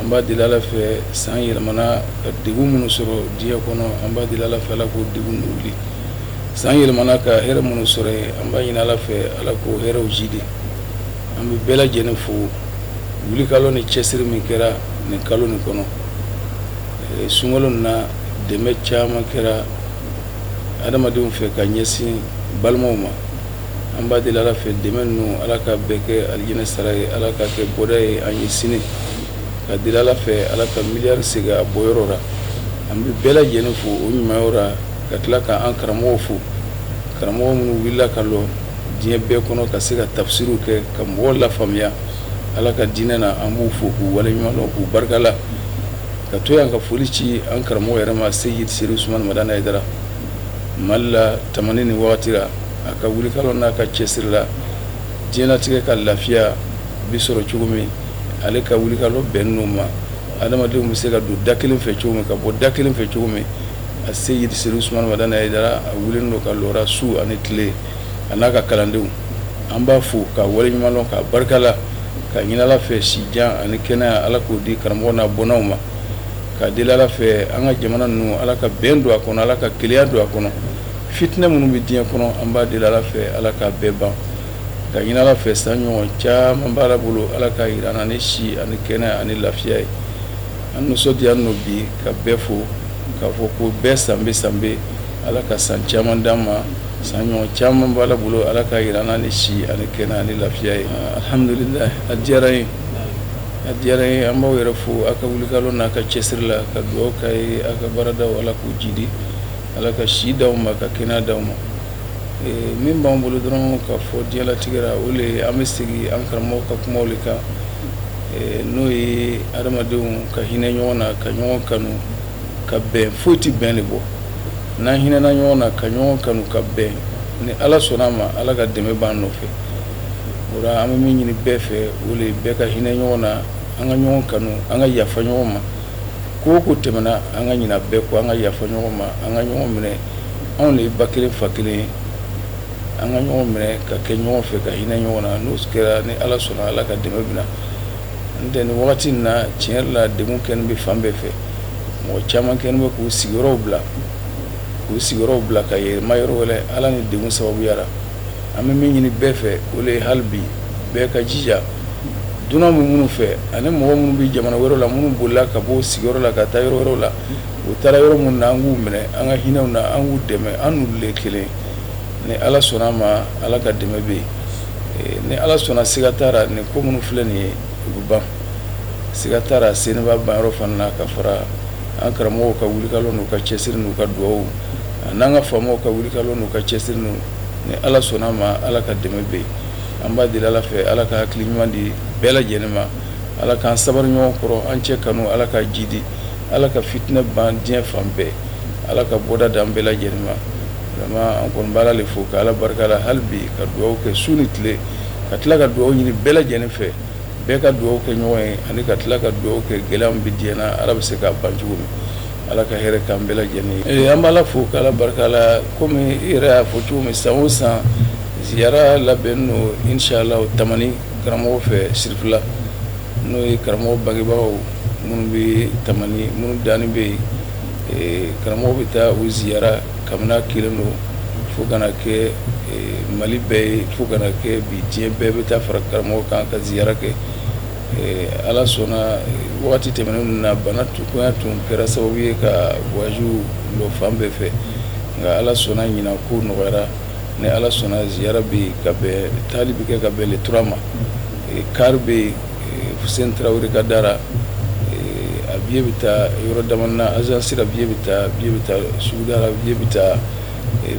an b'a deli ala fɛ san yɛlɛmana ka degun minnu sɔrɔ diɲɛ kɔnɔ an b'a deli ala fɛ ala k'o degun ninnu wuli san yɛlɛmana ka hɛrɛ minnu sɔrɔ yen an b'a ɲini ala fɛ ala k'o hɛrɛw jidi an bɛ bɛɛ lajɛlen fo wulikalɔ ni cɛsiri min kɛra nin kalo nin kɔnɔ eh, sunkalo na dɛmɛ caman kɛra adamadenw fɛ ka ɲɛsin balimaw ma an b'a deli ala fɛ dɛmɛ ninnu ala ka bɛɛ kɛ alijinɛ sara ye ala k'a kɛ bɔda ye an ye sini k'a deli ala fɛ ala ka miliyari segin a bɔyɔrɔ la an bɛ bɛɛ lajɛlen fo o ɲuman la ka tila ka an karamɔgɔw fo karamɔgɔ minnu wulila ka lɔ diɲɛ bɛɛ kɔnɔ ka se ka tafsiriw kɛ ka mɔgɔw lafaamuya ala ka diinɛ na an b'u fo k'u waleɲumandɔn k'u barika la ka to yan ka foli ci an karamɔgɔ yɛrɛ ma seyidi serifu usumani madani hayidara mali la ta ni wagati la a ka wulikalɔ n'a ka cɛsiri la diɲɛlatigɛ ka lafiya bɛ sɔrɔ cogo min ale ka wulikalɔ bɛnn'o ma adamadenw bɛ se ka don da kelen fɛ cogo min ka bɔ da kelen fɛ cogo min a seyidi serifu usumani madani hayidara a wulilen don ka lɔ su ani tile a n'a ka kalandenw an b'a fo k'a waleɲumandɔn k'a barika la k'a ɲini ala fɛ sijan ani kɛnɛya ala k'o di karamɔgɔ n'a bɔnnaw ma k'a deli ala fɛ an ka jamana ninnu ala ka bɛn don a kɔnɔ ala ka kelenya don a kɔnɔ fitinɛ minnu bɛ diɲɛ kɔnɔ an b'a deli ala fɛ ala k'a bɛɛ ban k'a ɲini ala fɛ san ɲɔgɔn caman b'ala bolo ala k'a jira an na ni si ani kɛnɛya ani lafiya ye an nisɔndiyalen don bi ka bɛɛ fo k'a fɔ ko bɛɛ sanbɛɛ sanbɛɛ ala ka san caman d'an ma san ɲɔgɔn caman b'ala bolo ala k'a jira an na ni si ani kɛnɛya ani lafiya ye alhamdulila a diyara n ye a diyara n ye an b'aw yɛrɛ fo a ka wulikalɔ n'a ka cɛsiri la ka dugawu k'a ye a ka baaradaw ala k'u jidi Ala ka si di aw ma ka kɛnɛya di aw ma min b'an bolo dɔrɔn k'a fɔ diɲɛlatigɛ ra o le an bɛ segin an karamɔgɔ ka kumaw le kan n'o ye adamadenw ka hinɛ ɲɔgɔn na ka ɲɔgɔn kanu ka bɛn foyi tɛ bɛn le bɔ n'an hinɛna ɲɔgɔn na ka ɲɔgɔn kanu ka bɛn ni ala sɔnna a ma ala ka dɛmɛ b'an nɔfɛ o la an bɛ min ɲini bɛɛ fɛ o le bɛɛ ka hinɛ ɲɔgɔn na an ka ɲɔgɔn kanu an ka yafa ɲɔgɔn ma ko o ko tɛmɛna an ka ɲina bɛɛ kɔ an ka yafa ɲɔgɔn ma an ka ɲɔgɔn minɛ anw de ye ba kelen fa kelen ye an ka ɲɔgɔn minɛ ka kɛ ɲɔgɔn fɛ ka hinɛ ɲɔgɔn na n'o kɛra ni ala sɔnna ala ka dɛmɛ bɛ na n'o tɛ ni wagati in na tiɲɛ yɛrɛ la degun kɛlen bɛ fan bɛɛ fɛ mɔgɔ caman kɛlen bɛ k'u sigiyɔrɔw bila k'u sigiyɔrɔw bila ka yɛlɛma yɔrɔ wɛrɛ ala ni degun sababuya la an bɛ min ɲini bɛɛ fɛ o le ye hali bi bɛɛ ka jija dunan bɛ minnu fɛ ani mɔgɔ minnu bɛ jamana wɛrɛ la minnu bolila ka bɔ sigiyɔrɔ la ka taa yɔrɔ wɛrɛ la u taara yɔrɔ minnu na an k'u minɛ an ka hinɛ u na an k'u dɛmɛ an n'olu le kelen ni ala sɔnna a ma ala ka dɛmɛ bɛ yen ni ala sɔnna siga t'a la nin ko minnu filɛ nin ye u bɛ ban siga t'a la sen b'a banyɔrɔ fana na ka fara an karamɔgɔw ka wulikalɔ n'u ka cɛsiri n'u ka dugawu A n'an ka faamaw ka wulikalɔ n'u ka cɛsiri n ni ala sɔnna a ma ala ka dɛmɛ bɛ yen an b'a deli ala fɛ ala ka hakili ɲuman di bɛɛ lajɛlen ma ala k'an sabali ɲɔgɔn kɔrɔ an cɛ kanu ala ka jidi ala ka fitinɛ ban diɲɛ fan bɛɛ ala ka bɔda di an bɛɛ lajɛlen ma vraiment an kɔni b'ala le fo ka ala barika la hali bi ka dugawu kɛ su ni tile ka tila ka dugawu ɲini bɛɛ lajɛlen fɛ bɛɛ ka dugawu kɛ ɲɔgɔn ye ani ka tila ka dugawu kɛ gɛlɛya min bɛ diɲɛ na ala bɛ se k'a ban cogo min Ala ka hɛrɛ k'an bɛɛ lajɛlen ye an b'ala fo k'ala barika la kɔmi i yɛrɛ y'a fɔ cogo min san o san ziyara labɛnnen don inshallah tamani karamɔgɔ fɛ sirifila n'o ye karamɔgɔ bangebagaw minnu bɛ tamani minnu dalen bɛ yen karamɔgɔ bɛ taa u ziyara kabini kelen don fo ka na kɛ mali bɛɛ ye fo ka na kɛ bi diɲɛ bɛɛ bɛ taa fara karamɔgɔ kan ka ziyara kɛ Ala sɔnna waati tɛmɛnen ninnu na banakoya tun kɛra sababu ye ka waju lɔ fan bɛɛ fɛ nka ala sɔnna ɲinan ko nɔgɔyara ni ala sɔnna ziyara bɛ yen ka bɛn taali bɛ kɛ ka bɛn le 3 ma kari bɛ yen fuseni tarawele ka da ra a biye bɛ ta yɔrɔ dama na agence ra biye bɛ ta suguda ra biye bɛ ta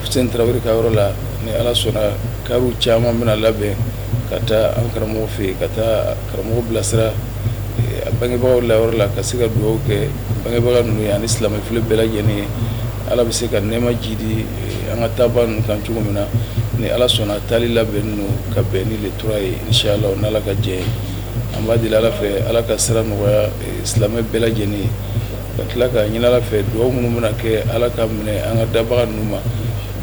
fuseni tarawele ka yɔrɔ la ni ala sɔnna kariw caman bɛna labɛn ka taa an karamɔgɔ fɛ yen ka taa karamɔgɔ bilasira a bangebagaw layɔrɔ la ka se ka dugawu kɛ bangebaga ninnu ye ani silamɛ fure bɛɛ lajɛlen ye ala bɛ se ka nɛɛma jidi an ka taabaa ninnu kan cogo min na ni ala sɔnna taali labɛnnen don ka bɛn ni le 3 ye inshallah n'ala ka jɛn ye an b'a deli ala fɛ ala ka sira nɔgɔya silamɛ bɛɛ lajɛlen ye ka tila k'a ɲini ala fɛ dugawu minnu bɛna kɛ ala ka minɛ an ka dabaga ninnu ma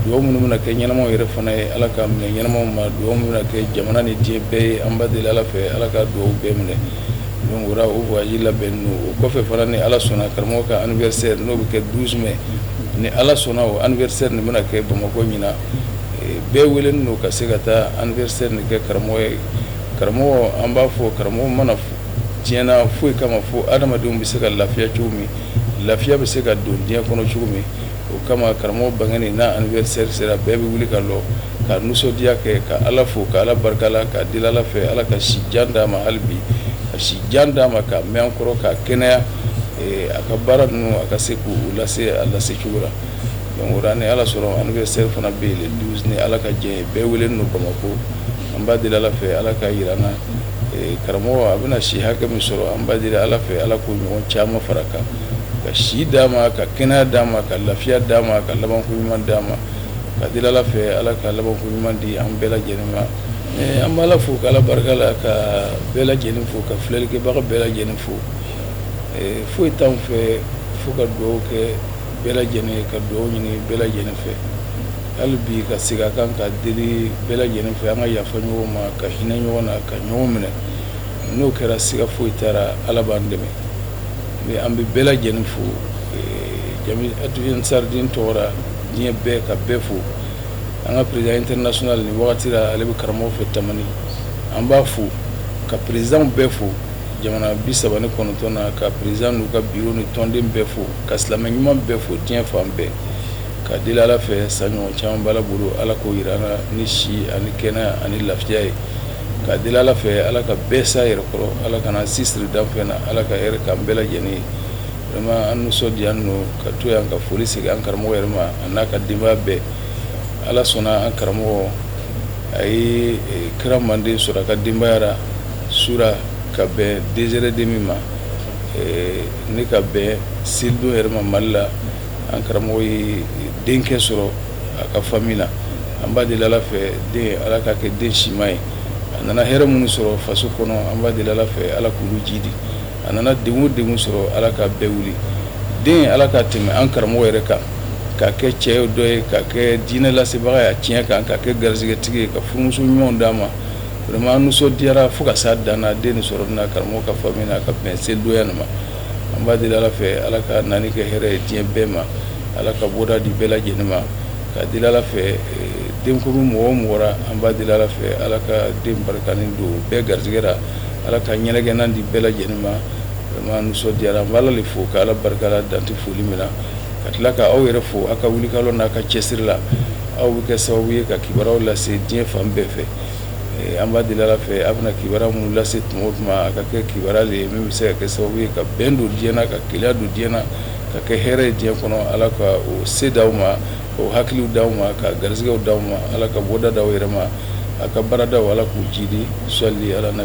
dugawu minnu bɛna kɛ ɲɛnamaw yɛrɛ fana ye ala ka minɛ ɲɛnamaw ma dugawu minnu bɛna kɛ jamana ni diɲɛ bɛɛ ye an b'a deli ala fɛ ala ka dugawu bɛɛ minɛ donc o la o voyage labɛnnen don o kɔfɛ fana ni ala sɔnna karamɔgɔ ka anniversaire n'o bɛ kɛ 12 mai ni ala sɔnna o anniversaire nin bɛna kɛ bamakɔ ɲinan bɛɛ welelen don ka se ka taa anniversaire nin kɛ karamɔgɔ ye karamɔgɔ an b'a fɔ karamɔgɔ ma na diɲɛ na foyi kama fo adamadenw bɛ se ka lafiya cogo min lafiya bɛ se ka don diɲɛ kɔnɔ cogo min o kama karamɔgɔ bangeni n'a anivɛrisɛri sera bɛɛ bɛ wuli ka lɔ ka nisɔndiya kɛ ka ala fo ka ala barika la ka deli ala fɛ ala ka si jan d'a ma hali bi ka si jan d'a ma ka mɛn an kɔrɔ ka kɛnɛya eh, a ka baara ninnu a ka se k'u lase a lase cogo la donc o la ni ala sɔrɔ anivɛrisɛri fana bɛ yen le 12 ni ala ka diɲɛ ye bɛɛ welenin don bamakɔ an b'a deli ala fɛ ala ka yira an na eh, karamɔgɔ a bɛna si hakɛ min sɔrɔ an b'a deli ala fɛ ala k'o ɲɔgɔn caman fara kan ka si d'a ma ka kɛnɛya d'a ma ka lafiya d'a ma ka labanko ɲuman d'a ma ka deli ala fɛ ala ka labanko ɲuman di an bɛɛ lajɛlen ma an b' ala fo ka ala barika la ka bɛɛ lajɛlen fo ka filɛlikɛbaga bɛɛ lajɛlen fo foyi t' an fɛ fo ka dugawu kɛ bɛɛ lajɛlen ye ka dugawu ɲini bɛɛ lajɛlen fɛ hali bi ka segin a kan ka deli bɛɛ lajɛlen fɛ an ka yafa ɲɔgɔn ma ka hinɛ ɲɔgɔn na ka ɲɔgɔn minɛ n'o kɛra siga foyi t'a ra ala b'an dɛmɛ mais an bɛ bɛɛ lajɛlen fo ansar dine tɔgɔ ra diɲɛ bɛɛ ka bɛɛ fo an ka président international nin wagati la ale bɛ karamɔgɔ fɛ tamani an b'a fo ka présidentw bɛɛ fo jamana bi saba ni kɔnɔntɔn na ka président n'u ka bureau ni tɔnden bɛɛ fo ka silamɛ ɲuman bɛɛ fo diɲɛ fan bɛɛ ka deli ala fɛ san ɲɔgɔn caman b'ala bolo ala k'o yira ni si ani kɛnɛya ani lafiya ye Ka deli ala fɛ ala ka bɛɛ s'a yɛrɛ kɔrɔ ala kan'an si siri danfɛn na ala ka hɛrɛ k'an bɛɛ lajɛlen ye vraiment an nisɔndiyalen don ka to yan ka foli segin an karamɔgɔ yɛrɛ ma a n'a ka denbaya bɛɛ ala sɔnna an karamɔgɔ a ye e, kira manden sɔrɔ a ka denbaya ra su ra ka bɛn deux heures et demie ma e, ne ka bɛn selidon yɛrɛ ma mali la an karamɔgɔ ye denkɛ sɔrɔ a ka famille na an b'a deli ala fɛ den ala ka kɛ den sima ye a nana hɛrɛ minnu sɔrɔ faso kɔnɔ an b'a deli ala fɛ ala k'olu jidi a nana den o den sɔrɔ ala ka bɛɛ wuli den ala ka tɛmɛ an karamɔgɔ yɛrɛ kan ka kɛ cɛ dɔ ye ka kɛ diinɛ lasebaga ye tiɲɛ kan ka kɛ garisɛgɛtigi ye ka furumuso ɲuman d'a ma vraiment an nisɔndiyara fo ka s'a dan na den sɔrɔ na karamɔgɔ ka famille na ka bɛn selidonya ma an b'a deli ala fɛ ala k'a nani kɛ hɛrɛ ye diɲɛ bɛɛ ma ala ka bɔda di bɛɛ lajɛlen ma ka deli ala fɛ eh, denkuru mɔgɔ o mɔgɔ ra an b'a deli ala fɛ ala ka den barikanin don bɛɛ garisɛgɛ ra ala ka ɲɛnagɛnna di bɛɛ lajɛlen ma vraiment nisɔndiyara an b'ala le fo ka ala barika la dan tɛ foli min na ka tila ka aw yɛrɛ fo aw ka wulikalɔ n'a ka cɛsiri la aw bɛ kɛ sababu ye ka kibaruyaw lase diɲɛ fan bɛɛ fɛ an b'a deli ala fɛ a bɛna kibaruya minnu lase tuma o tuma a ka kɛ kibaruya le ye min bɛ se ka kɛ sababu ye ka bɛn don diɲɛ na ka kelenya don diɲɛ na ka kɛ hɛrɛ ye diɲɛ kɔnɔ ala ka o se d' aw ma o hakiliw d' aw ma ka garisɛgɛw d' aw ma ala ka bɔda d' aw yɛrɛ ma a ka baaradaw ala k'u jidi salli ala na